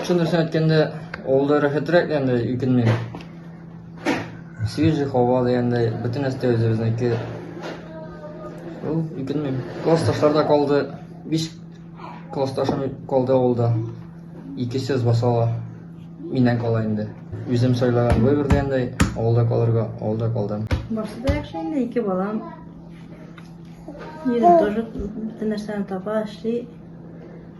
Чын дөресен әйткәндә, авылда рәхәтрәк дигәндә икенмин. Свежий һава дигәндә, бөтен нәрсә үзебезнеке. Ул икенмин. Класс ташларда калды. Биш класс ташым калды авылда. Икесе басала. Миннән кала инде. Үзем сайлаган выбор дигәндә, авылда калырга, авылда калдым. Барсы да яхшы инде, ике балам. Ирем тоже бөтен нәрсәне таба, эшли.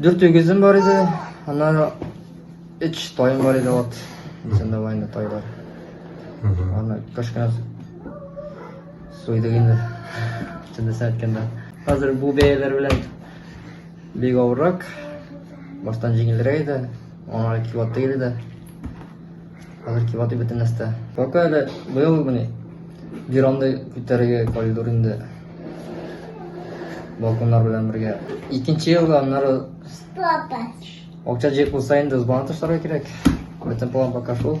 Дүрт үгезем бар иде, аннары өч тайым бар иде ат. Исәндә бар инде тайлар. Аны кашкана суйдык инде. Чындысын әйткәндә. Хәзер бу бәяләр белән бик авыррак. Баштан җиңелрәк иде. Аңа килоты иде дә. Хәзер кибаты бөтен нәрсә. Пока әле быел мени бирамды күтәрергә калдыр инде. Балконнар белән бергә. Икенче елга аннары Акча җыеп булса инде сбана ташларга кирәк. Бөтен план пока шул.